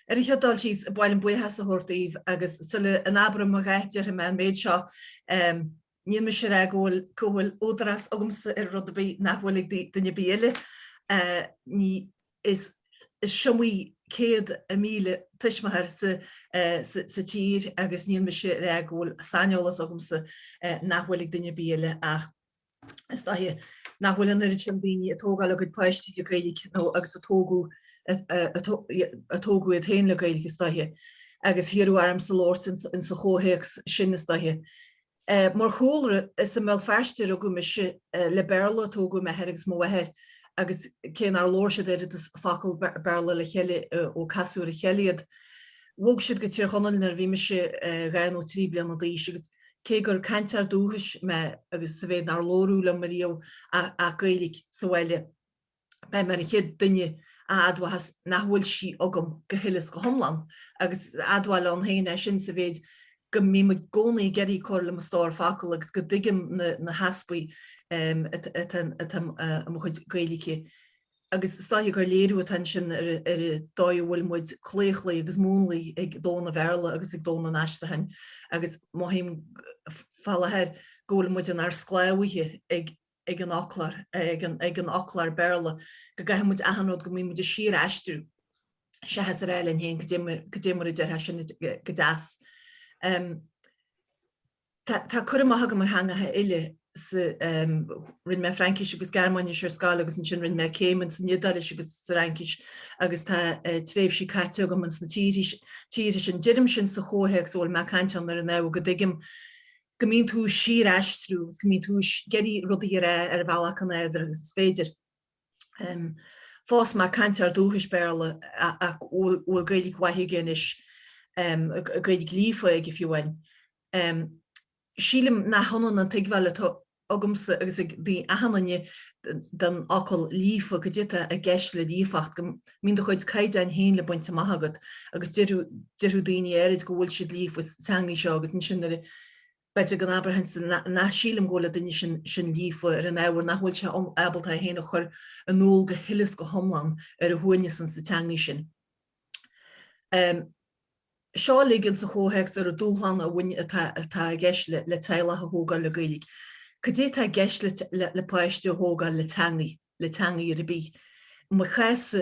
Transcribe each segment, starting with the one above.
Ar an chéad dul síos, ba mhaith liom buíochas a thabhairt daoibh agus sula n-abraim a dhath déarfaidh mé an méid seo, níl mise a rá go bhfuil go bhfuil údarás agamsa ar rud ar bith nach bhfuil ag duine ar bith eile. Ní is is iomaí céad míle tuismitheoir sa sa tír agus níl mise a rá go bhfuil saineolas agamsa nach bhfuil ag duine ar bith eile ach, is dóiche nach bhfuil an oiread sin daoine ag tógáil a gcuid páistí le Gaeilge nó agus a tógadh a tógadh iad féin le Gaeilge is dóiche agus iarradh ormsa labhairt insa chomhthéacs sin is dóiche. Mar chúlra, is i mBéal Feirste a rugadh mise, le Béarla a tógadh m'athair agus mo mháthair agus cé nár labhair siad oiread is focal Béarla le chéile ó casadh ar a chéile iad, bhog siad go Tír Chonaill nuair a bhí mise dhá nó trí bliana d'aois agus. cé gur cainteoir dúchais mé agus sa mhéid nár labhradh liom riamh ach Gaeilge sa bhaile, beidh mé ar an chéad duine a admhóchas nach bhfuil sí agam go huile is go hiomlán, agus is admháil ann féin é sin sa mhéid go mbím i gcónaí ag iarraidh cur le mo stór focal agus go dtuigim na heaspaí atá i mo chuid Gaeilge. agus is dóiche gur léiriú atá ansin ar an dóigh a bhfuil muid claochlaithe agus múnlaithe ag domhan an Bhéarla agus ag domhan an aistriúcháin agus mothaím fá láthair go bhfuil muid inár sclábhaithe ag an fhoclóir, ag an fhoclóir Béarla, go gcaithfidh muid achan rud, go mbíonn muid ag síor-aistriú seachas a rá linn féin cad é mar a déarfá sin go deas. Tá cur amach agam ar theangacha eile, rinne mé Fraincis agus Gearmáinis ar scoil agus ansin rinne mé céim insan Iodáilis agus sa Fhraincis agus tá tréimhsí caite agam insna tíortha sin. Deirim sin sa chomhthéacs a bhfuil mé ag caint ann ar an ábhar go dtuigim go mbíonn tú ag síor-aistriú agus go mbíonn tú ag iarraidh rudaí a rá ar bhealach an fhearr agus is féidir. phós mé cainteoir dúchais Béarla ach a bhfuil Gaeilge mhaith aige anois, Gaeilge líofa aige fiú amháin. Sílim nach ionann an tuigbheáil atá agamsa agus ag achan duine den fhocal 'líofa', cad é atá i gceist le líofacht? Go mbíonn do chuid caighdeáin féin le baint amach agat agus déarfadh daoine áirid go bhfuil siad líofa sa teanga seo agus ansin nuair a B'fhéidir go n-abróchainn nach sílim go bhfuil an duine sin líofa ar an ábhar nach bhfuil sé ábalta é féin a chur in iúl go huile is go hiomlán ar a shuaimhneas insa teangaidh sin. Seo uilig insa chomhthéacs ar an dúshlán a bhain atá i gceist le teaghlach a thógáil le Gaeilge. Cad é atá i gceist le páistí a thógáil le teangaidh ar bith? I mo chás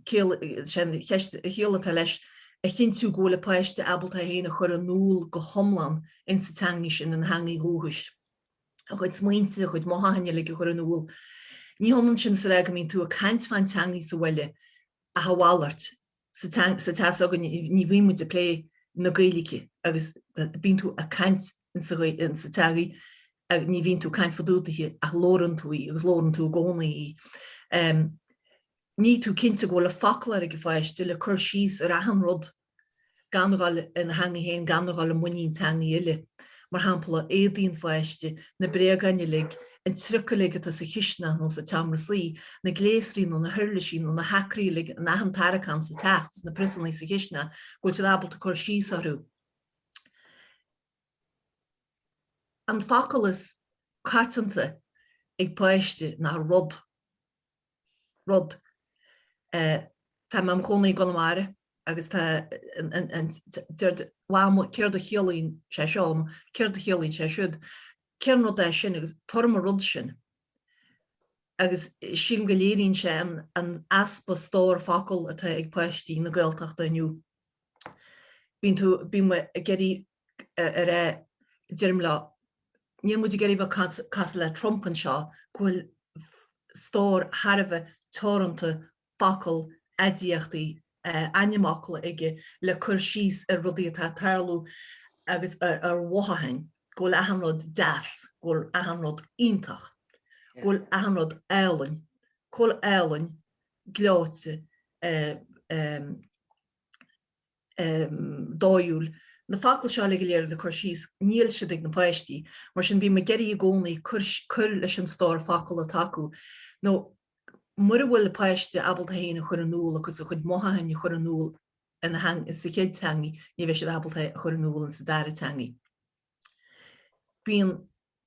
ciallaíonn sin go bhfuil a shaol caite leis, a chinntiú go bhfuil a páiste ábalta é féin a chur in iúl go hiomlán insa teanga sin, ina theangaidh dhúchais. A chuid smaointe, a chuid mothúcháin uilig a chur in iúl. Ní hionann sin is a rá go mbíonn tú ag caint fán teangaidh sa bhaile ach a mhalairt. Sa teach s'againne ní bhíonn muid ag plé na Gaeilge agus bíonn tú ag caint insa teangaidh ach ní bhíonn tú ag caint fá dtaobh daoithe ach labhrann tú í agus labhrann tú i gcónaí í. ní tú cinnte go bhfuil an foclóir ag an pháiste le cur síos ar achan rud, gan a ghabháil ina theangaidh féin, gan a ghabháil i muinín teangaidh eile, mar shampla, éadaí an pháiste, na bréagáin uilig, an trioc uilig atá sa chistineach nó sa tseomra suí, na gléasraí nó na huirlisí nó na hacraí uilig in achan tarraiceán sa teach, sna priosannaí sa chistineach, go bhfuil siad ábalta cur síos orthu. An focal is coitianta ag páiste ná rud. rud. Tá mé i mo chónaí i gConamara agus tá, deir siad Mam céard a chiallaíonn sé seo nó céard a chiallaíonn sé siúd, cén rud é sin agus tabhair dom an rud sin. Agus sílim go léiríonn sé an easpa stór focal atá ag páistí na Gaeltachta inniu. Bíonn tú, bíonn muid ag iarraidh ar, deirim leo, níl muid ag iarraidh bheith ag cosúil le Trump anseo go bhfuil stór thar a bheith teoranta focal, aidiachtaí, ainmfhocal aige le cur síos ar rudaí atá ag tarlú agus ar mhothúcháin go bhfuil achan rud deas, go bhfuil achan rud iontach, go bhfuil achan rud álainn, go bhfuil álainn, gleoite. dóiúil. Na focail seo uilig go léir le cur síos, níl siad ag na páistí. Mar sin, bím ag iarraidh i gcónaí cur leis an stór focal atá acu. Nó, mura bhfuil páiste ábalta é féin a chur in iúl agus a chuid mothúcháin a chur in iúl ina theanga, sa chéad teangaidh, ní bheidh siad ábalta é a chur in iúl sa dara teangaidh. Bíonn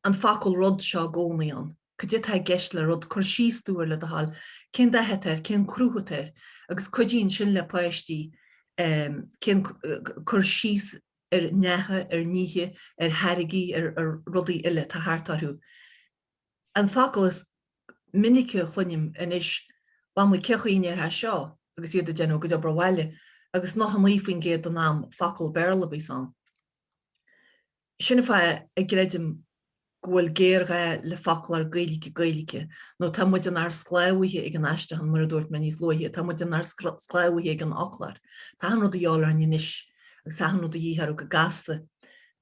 an focal 'rud' seo i gcónaí ann. Cad é atá i gceist le 'rud'? Cuir síos air, le do thoil. Cén dath atá air? Cén cruth atá air? Agus cuidíonn sin le páistí chun cur síos ar neacha, ar nithe, ar tháirgí, ar rudaí eile atá thart orthu. An focal is minice a chluinim anois, 'Mamaí, cé chaoi a ndéarfá seo? agus iad ag déanamh a gcuid obair bhaile, agus 99% den am focal Béarla a bíos ann. Sin an fáth a gcreidim go bhfuil géarghá le foclóir Gaeilge-Gaeilge, nó tá muid inár sclábhaithe ag an aistriúchán, mar a dúirt mé níos luaithe, tá muid inár sclábhaithe ag an fhoclóir. Tá achan rud de dhíobháil orainn anois agus tá achan rud de dhíth orthu go gasta.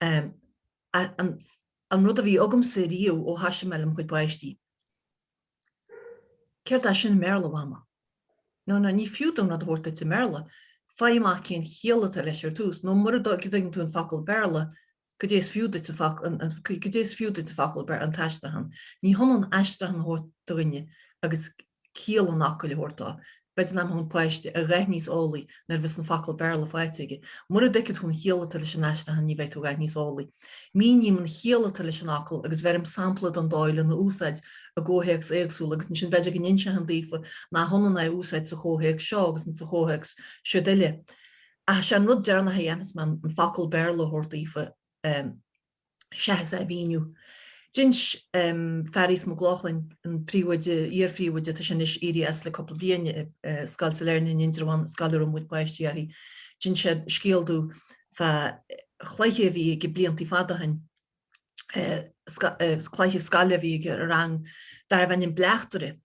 An rud a bhí agamsa riamh ó thoisigh mé le mo chuid páistí, Céard é sin i mBéarla, Mhama? No, no, ní fiú dom rud a thabhairt duit i mBéarla. Faigh amach cén chiall atá leis ar dtús, nó mura dtuigeann tú an focal Béarla, goidé is fiú duit an focal Béarla, an t-aistriúchán? Ní hionann aistriichan a thabhairt do dhuine agus ciall an fhocail a thabhairt dó. B'fhéidir nach mbeidh an páiste a dhath níos eolaí nuair a bheas an focal Béarla faighte aige. Mura dtuigfidh tú an chiall atá leis an aistriúchán ní bheidh tú a dhath níos eolaí. Míním an chiall atá leis an fhocal agus bheirim sampla den dóigh lena úsáid i gcomhthéacs éagsúla agus ansin b'fhéidir go n-inseochainn daofa nach ionann é a úsáid sa chomhthéacs seo agus sa chomhthéacs siud eile. Ach is é an rud deireanach a dhéanfas mé an focal Béarla a thabhairt daofa. Seachas é a mhíniú, d'inis Fearghas Mac Lochlainn, an príomhoide, iar-phríomhoide, tá sé anois éirithe as le cúpla bliain, i Scoil Sailearna in Indreabhán, an scoil a raibh mo chuid páistí uirthi, d'inis sé scéal domh fá chluiche a bhí aige blianta fada ó shin, cluiche scoile a bhí aige i rang darbh ainm Bleachtaire.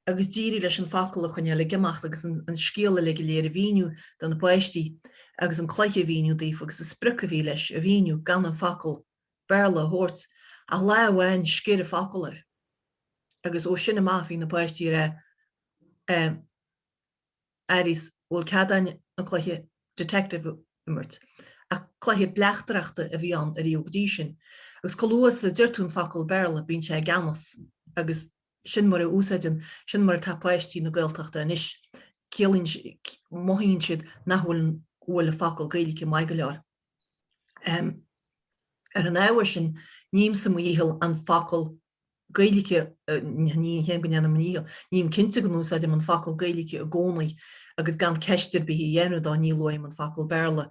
agus d'éirigh leis an focal a choinneáil ag imeacht agus an scéal uilig go léir a mhíniú do na páistí agus an cluiche a mhíniú daofa agus an sprioc a bhí leis a mhíniú gan an focal Béarla a thabhairt ach lá amháin sciorr an focal air agus ó sin amach bhí na páistí ag rá a Fhearghais bhfuil cead a'inn an cluiche detective a imirt ach cluiche bleachtaireachta a bhí ann ariamh go dtí sin agus chomh luath is a deir tú an focal Béarla bíonn sé i gceannas agus Sin mar a úsáideann, sin mar atá páistí na Gaeltachta anois. Ciallaíonn, mothaíonn siad nach bhfuil an, bhfuil an focal Gaeilge maith go leor. Ar an ábhar sin, nímse mo dhícheall an focal Gaeilge, ní hé go ndéanaim mo dhícheall, ním cinnte go n-úsáidim an focal Gaeilge i gcónaí agus gan ceist ar bith a dhéanamh de, ní luaim an focal Béarla.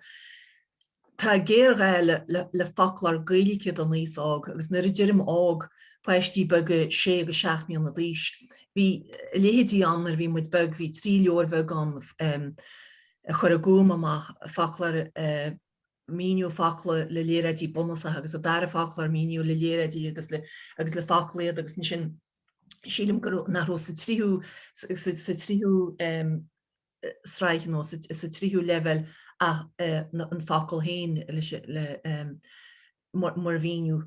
Tá géarghá le foclóir Gaeilge don aos óg agus nuair a deirim óg, páistí beaga 6-7 mbliana d'aois. Bhí a leithéidí ann nuair a bhí muid beag, bhí trí leabhar bheag ann a chuir An Gúm amach, foclóir míniú, focla le léaráidí bunúsacha agus an dara foclóir míniú le léaráidí agus le focail iad agus ansin sílim go, nach raibh sa tríú tsraith nó sa tríú leibhéal ach an focal féin mar mhíniú.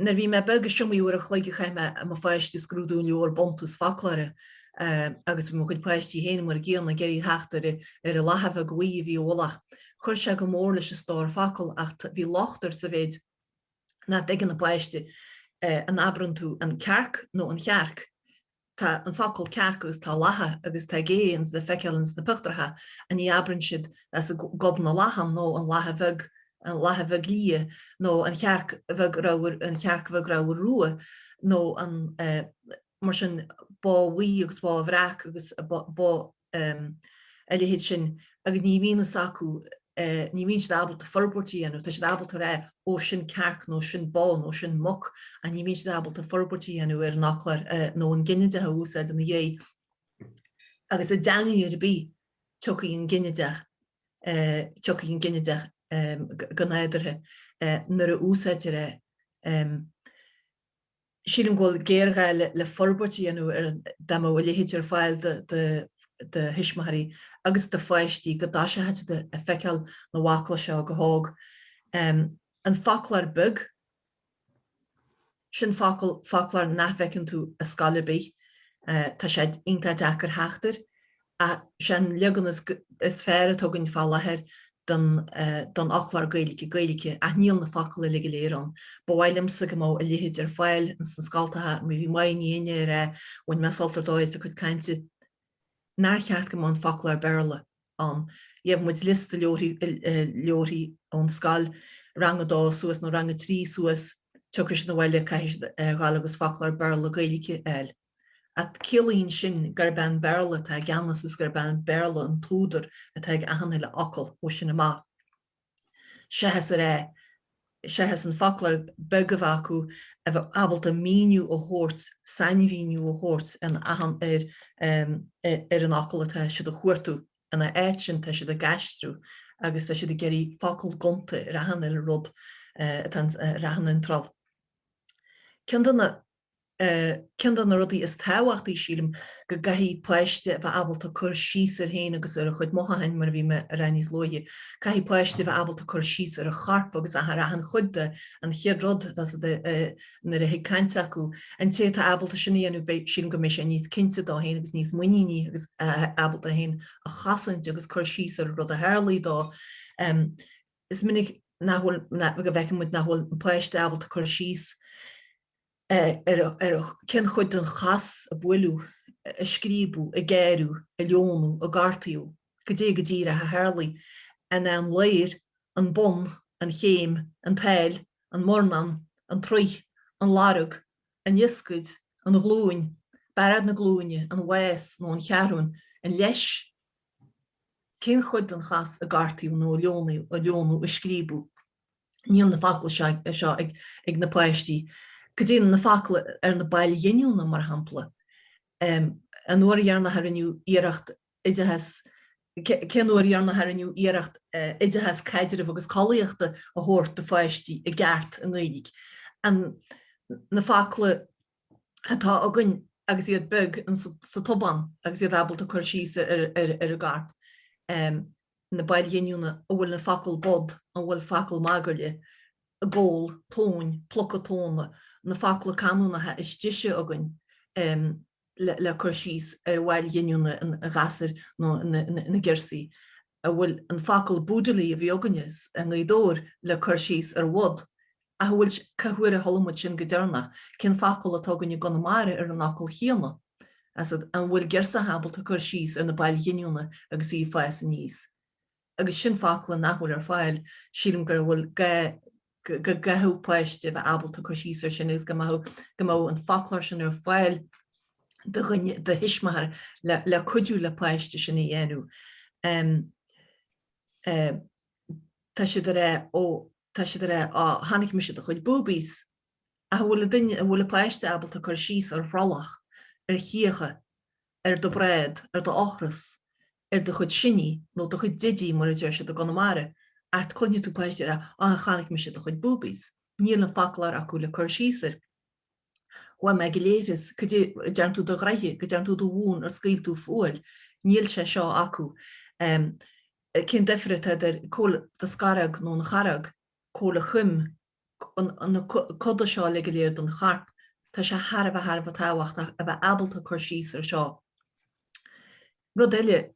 Nuair a bhí mé beag, is iomaí uair an chloig a chaith mé i mo pháiste ag scrúdú an leabhar Buntús Foclóra agus bhí mo chuid páistí féin mar an gcéanna, ag iarraidh theacht ar an lacha bheag bhuí a bhí i bhfolach. Chuir sé go mór leis an stór focal ach bhí locht air sa mhéid nach dtuigeann an páiste an abrann tú an cearc nó an chearc. tá an focal cearc agus tá lacha agus tá gé ins le feiceáil ins na pictiúracha ach ní abrann siad as gob na lachan nó an lacha bheag an lacha bheag liath nó an chearc bheag ramhar an chearc bheag ramhar rua nó an mar sin bó bhuí agus bó bhreac agus bó um a leithéid sin agus ní bhíonn fhios acu, eh ní bhíonn siad ábalta forbairt a dhéanamh, tá siad ábalta a rá oh sin cearc nó sin bó nó sin muc ach ní bhíonn siad ábalta forbairt a dhéanamh ar an fhoclóir eh nó an ginideach a úsáid ina dhiaidh agus i dteangaidh ar bith tiocfaidh an ginideach eh tiocfaidh an ginideach eh go nádúrtha eh nuair a úsáidtear é. Um. Sílim go bhfuil géarghá le forbairt a dhéanamh ar an dá mbeadh a leithéid ar fáil do thuismitheoirí agus do pháistí go dtoiseochaí ag feiceáil na bhfocla seo go hóg. An foclóir beag, sin focal, foclóir nach bhfeiceann tú i scoil ar bith. Tá sé iontach deacair theacht air. Is é an leagan is fearr atá againn fá láthair den fhoclóir Gaeilge, Gaeilge, ach níl na focla uilig go léir ann. Ba mhaith liomsa go mbeadh a leithéid ar fáil ins na scoltacha. Bhí Máirín Ní Fhinne ag rá, bhain mé sult ar dóigh as a cuid cainte, nár cheart go mbeadh an foclóir Béarla ann. Gheibh muid liosta leabharthaí ón scoil, rang a dó suas nó rang a trí suas, tiocfaidh siad abhaile, caithfidh siad a ghabháil agus foclóir Béarla, Gaeilge a fháil. ach, ciallaíonn sin gurb é an Béarla atá i gceannas is gurb é an Béarla an t-údar atá ag achan uile fhocal ó sin amach. Seachas ar eh. seachas an foclóir beag a bheith acu a bheith ábalta míniú a thabhairt, sainmhíniú a thabhairt in achan ar em. ar an fhocal atá siad a chuartú. Ina áit sin tá siad ag aistriú agus tá siad ag iarraidh focal gonta ar achan uile rud atá ins ar achan iontráil. Ceann de na. Ceann de na rudaí is tábhachtaí, sílim, go gcaithfidh páiste a bheith ábalta cur síos air féin agus ar a chuid mothúcháin, mar a bhí mé a rá níos luaithe. Caithfidh páiste a bheith ábalta cur síos ar a chorp agus ar achan chuid de, an chéad rud, nuair a thig caint acu. An té atá ábalta sin a dhéanamh beidh, sílim, go mbeidh sé níos cinnte dó féin agus níos muiníní agus ábalta é féin a chosaint agus cur síos ar an rud a tharlaigh dó. Is minic nach bhfuil, go bhfeiceann muid nach bhfuil an páiste ábalta cur síos. ar cén chuid den chos a buaileadh, a scríobadh, a gearradh, a leonadh, a gortaíodh, goidé go díreach a tharlaigh, an é an ladhar, an bonn, an chéim, an tsáil, an murnán, an troigh, an lorga, an ioscaid, an ghlúin, bearád na glúine, an mhás nó an cheathrú, an leis, cén chuid den chos a gortaíodh nó a leonadh, a scríobadh? Níl na focla seo ag na páistí. Cad iad na focla ar na baill ghiniúna, mar shampla, an uair dheireanach a rinneadh iarracht oideachas, cén uair dheireanach a rinneadh iarracht oideachas caidrimh agus collaíochta a thabhairt do pháistí i gceart i nGaeilge? Na focla. atá againn agus iad beag insa tobán agus iad ábalta cur síos air i gceart, na baill ghiniúna, an bhfuil an focal bod, an bhfuil focal magairlí, gabhal, tóin, pluca tóna, na focla canúnacha is deise againn le cur síos ar bhaill ghiniúna an ghasuir nó na girsí. an bhfuil an focal Boodilly a bhí againne i nGaoth Dobhair le cur síos ar bhod, ach a bhfuil Cá huair a chuala muid sin go deireanach? Cén focal atá againn i gConamara ar an fhocal chéanna? Is an bhfuil girseach ábalta cur síos ar na baill ghiniúna agus í ag fás aníos? Agus sin focla nach bhfuil ar fáil, sílim go bhfuil gá. go gcaithfeadh páiste bheith ábalta cur síos ar sin agus go mbeadh go mbeadh an foclóir sin ar fáil do do thuismitheoir le le cuidiú le páiste sin a dhéanamh em eh tá siad ag rá ó tá siad ag rá á chonaic mise do chuid boobies ach an bhfuil duine an bhfuil páiste ábalta cur síos ar bhrollach ar chíocha ar do bhráid ar do ochras ar do chuid siní nó do chuid didí mar a deir siad i gConamara, ach cluinfidh tú páistí ag rá Á chonaic mise do chuid boobies. Níl an foclóir acu le cur síos air. Chuaigh mé chuig an leithreas. Cad é a dearn tú do ghraithe? Go dearn tú do mhún? Ar scaoil tú fual? Níl sé seo acu. Cén duifear atá idir caol do scoróg nó an chorróg? Caol an choim. na coda seo uilig go léir den chorp. Tá sé thar a bheith thar a bheith tábhachtach a bheith ábalta cur síos ar seo. Rud eile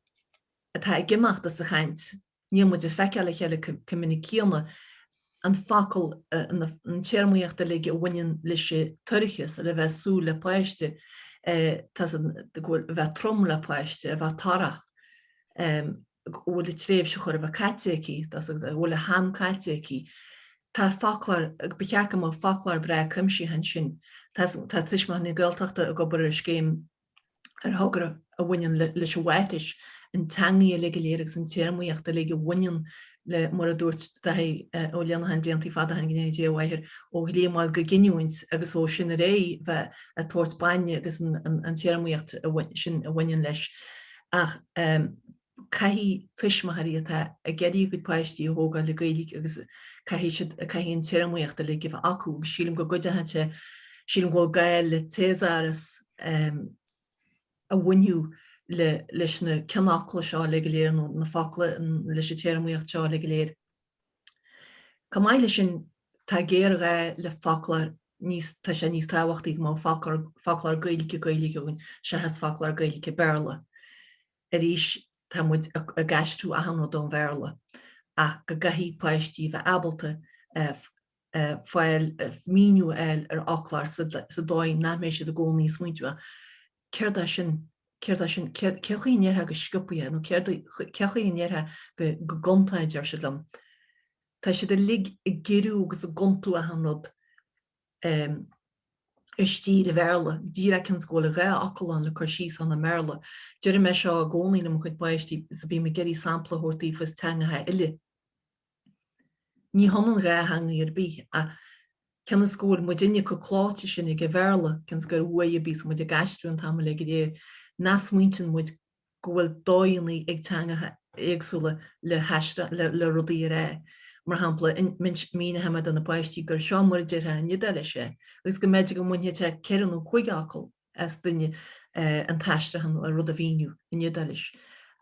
atá ag imeacht as an chaint, níl muid ag feiceáil a chéile chomh minic céanna. An focal, an téarmaíocht uilig a bhaineann leis an toircheas, a le bheith ag súil le páiste, tá a fhios agat, a bheith trom le páiste, a bheith torrach. go bhfuil a tréimhse chóir a bheith caite aici, go bhfuil a ham caite aici. Tá foclóir, ba cheart go mbeadh foclóir breá cuimsitheach ansin. Tá Tuismitheoirí na Gaeltachta ag obair ar scéim ar thogra a bhaineann leis an mháithreachas, an teangaidh uilig go léir agus an téarmaíocht uilig a bhaineann le, mar a dúirt Daithí Ó Luineacháin blianta fada ó shin, go ndéana Dia a mhaith air, ó ghlíomáil go giniúint agus ó sin ar aghaidh bheith ag tabhairt bainne agus an téarmaíocht sin a bhaineann leis. ach caithfidh tuismitheoirí atá ag iarraidh a gcuid páistí a thógáil le Gaeilge agus caithfidh siad, caithfidh an téarmaíocht uilig a bheith acu agus sílim go gcuideodh sé, sílim go bhfuil gá le téasáras a bhainfeadh leis na ceannfhocla seo uilig go léir nó na focla leis an téarmaíocht seo uilig go léir. Chomh maith leis sin, tá géarghá le foclóir, níos, tá sé níos tábhachtaí go mbeadh foclóir, foclóir Gaeilge-Gaeilge againn seachas foclóir Gaeilge-Béarla. Arís, tá muid ag aistriú achan rud ón Bhéarla ach go gcaithfidh páistí a bheith ábalta fáil, míniú a fháil ar fhoclóir, sa dóigh nach mbeidh siad i gcónaí ag smaointiú céard é sin, céard é sin, céard, cé chaoi a ndéarfá go sciobtha é nó céard, cé chaoi a ndéarfá go, go gonta é, a deir siad liom. Tá siad uilig ag giorrú agus ag gontú achan rud eh i stíl Bhéarla, díreach cionn is go bhfuil dhá fhocal ann le cur síos ann i mBéarla. Deir mé seo i gcónaí le mo chuid páistí is bím ag iarraidh sampla a thabhairt daofa as teangacha eile, Ní hionann dhá theanga ar bith ach cionn is go bhfuil muid uilig chomh clóite sin ag an Bhéarla, cionn is gur uaidh a bíos muid ag aistriú an t-am ar fad, go dtí nach smaointíonn muid go bhfuil dóigheanna ag teangacha éagsúla le rudaí a rá. Mar shampla, míneochaidh mé do na páistí gur 'seo mar a déarfaí in Iodáilis é' agus go mb'fhéidir go mbainfeadh sé ceithre nó cúig fhocal as duine an t-aistriúchán, an rud a mhíniú in Iodáilis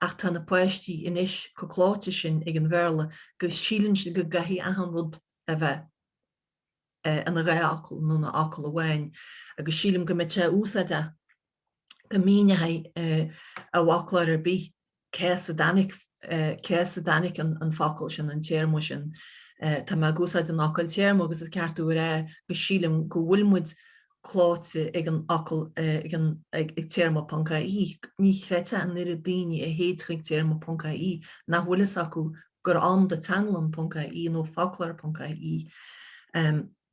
ach tá na páistí anois chomh clóite sin ag an Bhéarla go síleann siad go gcaithfidh achan rud a bheith ina dhá fhocal nó ina fhocal amháin agus sílim go mbeadh sé úsáideach go míneochadh, i bhfoclóir ar bith. cé as a dtáinig an focal sin, an téarma sin. Tá mé ag úsáid an fhocail téarma, agus i gceartuair, go sílim go bhfuil muid clóite ag an fhocal ag téarma ponc AE. Ní chreidfeá an oiread daoine a théid ag téarma ponc AE nach bhfuil a fhios acu gur ann do teanglann ponc AE nó foclóir ponc AE.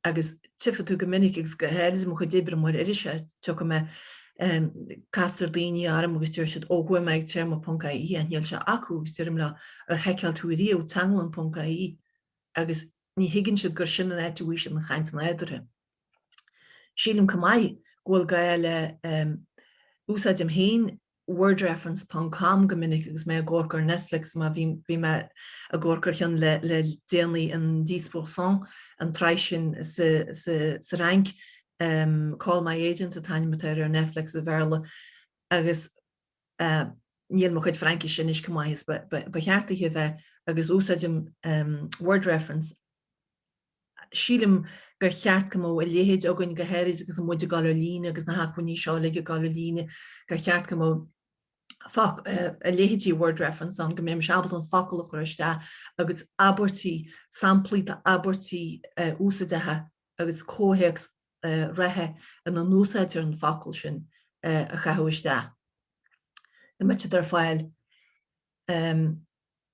agus tchífidh tú go minic agus go háirid i mo chuid oibre mar iriseoir, tiocfaidh mé castar daoine orm agus deir siad ó chuaigh mé ag téarma ponc AE is níl sé acu agus deirim leo ar sheiceáil tú ariamh teanglann ponc AE agus ní thuigeann siad gur sin an áit a bhfaighidh siad an chaint nádúrtha. Sílim comh maith go bhfuil gá le úsáidim féin wordreference ponc com go minic agus mé ag amharc ar Netflix mar bhí bhí mé ag amharc ar cheann le le déanaí an dix pour cent an tsraith sin sa sa sa Fhrainc em call my agent an t-ainm atá air ar Netflix i mBéarla agus eh níl mo chuid Fraincise anois chomh maith is ba ba ba cheart di a bheith agus úsáidim em wordreference Sílim gur cheart go mbeadh a leithéid againn, go háirid agus muid ag dul ar líne agus na hacmhainní seo uilig ag dul ar líne, gur cheart go mbeadh a leithéid de Word Reference ann, go mbeimis ábalta an focal a chur isteach agus abairtí, samplaí d'abairtí úsaideacha agus comhthéacs reatha ina n-úsáidtear an focal sin a chaitheamh isteach. Go mbeadh sé ar fáil.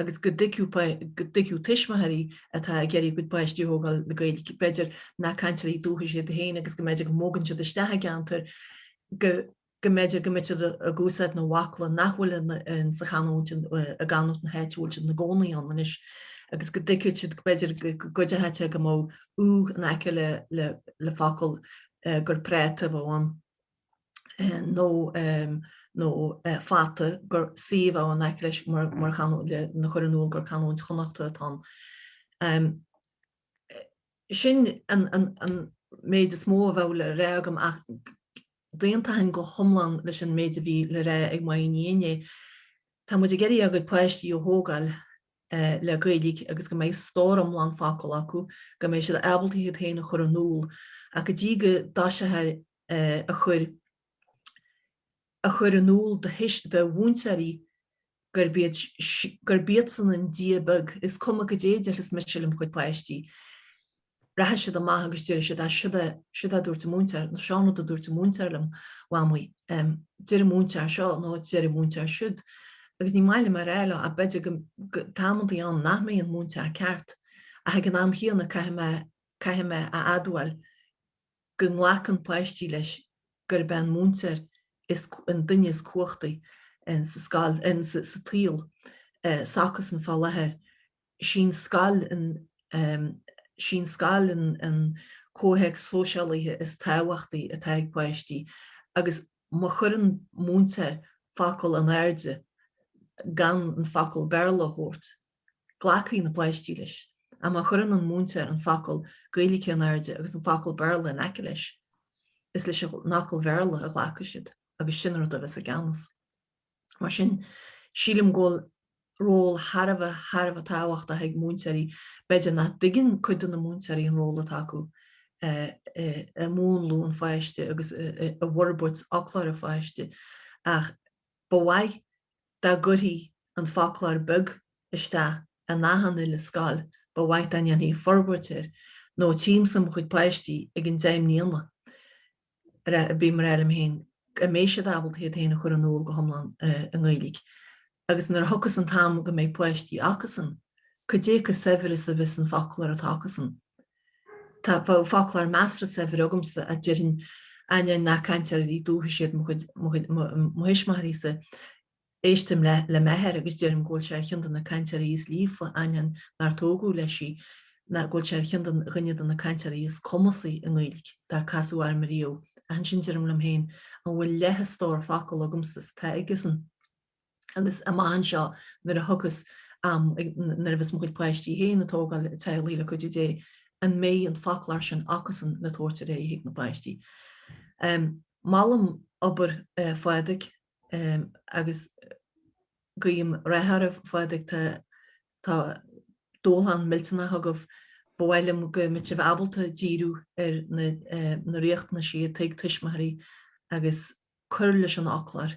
agus go dtuigfeadh tuismitheoirí atá ag iarraidh a gcuid páistí a thógáil le Gaeilge, b'fhéidir, nach cainteoirí dúchais iad féin agus go go mb'fhéidir go mbogann siad isteach i gceantar go mb'fheidir go mbeidh siad ag úsáid na bhfocla nach bhfuil insa chanúint i gcanúint na háite a bhfuil siad ina gcónaí ann anois agus go dtuigfeadh siad b'fhéidir go gcuideochadh sé go mbeadh 'U' in aice le focal gur práta a bheadh ann. nó fata gur 'C' a bheadh ann in aice leis mar a chur in iúl gur canúint Chonnachtach atá ann. Sin an méid is mó a bheadh le rá agam ach d'aontaithin go hiomlán leis an méid a bhí le rá ag Maínín inné. Tá muid ag iarraidh ár gcuid páistí a thógáil le Gaeilge agus go mbeidh stór iomlán focal acu, go mbeidh siad ábalta iad féin a chur in iúl ach go dtí go dtoiseofar a chur a chur in iúl do do mhúinteoirí gurb iad gurb iadsan an Dia beag, is cuma cad é déarfas mise le mo chuid páistí, rachaidh siad amach agus déarfaidh siad ach siod é a dúirt an múinteoir nó seo an rud a dúirt an múinteoir liom, Mhamaí, deir an múinteoir seo nó deir an múinteoir siúd. Agus ní maith liom bheith a rá leo ach b'fhéidir tá amantaí ann nach mbíonn an múinteoir ceart ach ag an am chéanna caithfidh mé a admháil go nglacann páistí leis gurb é an múinteoir is an duine is cumhachtaí insa scoil, insa tsaol s'acusan fá láthair. Is í an scoil, is í an scoil an comhthéacs sóisialaithe is tábhachtaí atá ag páistí agus má chuireann múinteoir focal in airde gan an focal Béarla a thabhairt, glacfaidh na páistí leis, ach má chuireann an múinteoir an focal Gaeilge in airde agus an focal Béarla in aice leis, is leis an fhocal Bhéarla a ghlacfaidh siad agus sin an rud a bheas i gceannas. Mar sin, sílim go bhfuil ról thar a bheith, thar a bheith tábhachtach ag múinteoirí. B'fhéidir nach dtuigeann cuid de na múinteoirí an ról atá acu i múnlú an pháiste agus i bhforbairt fhoclóir an pháiste ach ba mhaith, Dá gcuirfí An Foclóir Beag isteach in achan uile scoil ba mhaith dá ndéanfaí forbairt air nó tchímsa mo chuid páistí ag an am seo den bhliain agus bím a rá liom féin an mbeidh siad ábalta iad féin a chur in iúl go hiomlán i nGaeilge agus nuair a thiocfas an t-am go mbeidh páistí acusan cad é chomh saibhir is a bheas an foclóir atá acusan. Tá foclóir measartha saibhir agamsa, a deirfinn, ainneoin nach cainteoirí dúchais iad mo thuismitheoirí-sa. Éistim le m'athair agus deirim go bhfuil sé ar cheann de na cainteoirí is líofa, ainneoin nár tógadh leis í, ná go bhfuil sé ar cheann de dhuine de na cainteoirí is cumasaí i nGaeilge dár casadh orm riamh. Ach ansin deirim liom féin, an bhfuil leath an stór focal agamsa is atá aigesan? agus amach anseo nuair a thiocfas am, nuair a bheas mo chuid páistí féin ag tógáil teaghlaigh le cuidiú Dé, an mbeidh an foclóir sin acusan le tabhairt ar aghaidh chuig na páistí? Molaim obair Phádraig agus guím rath oraibh. Phádraig, Tá tá dúshlán millteanach agaibh. Ba mhaith liom go mbeadh sibh ábalta díriú ar na na riachtanaisí atá ag tuismitheoirí agus cur leis an fhoclóir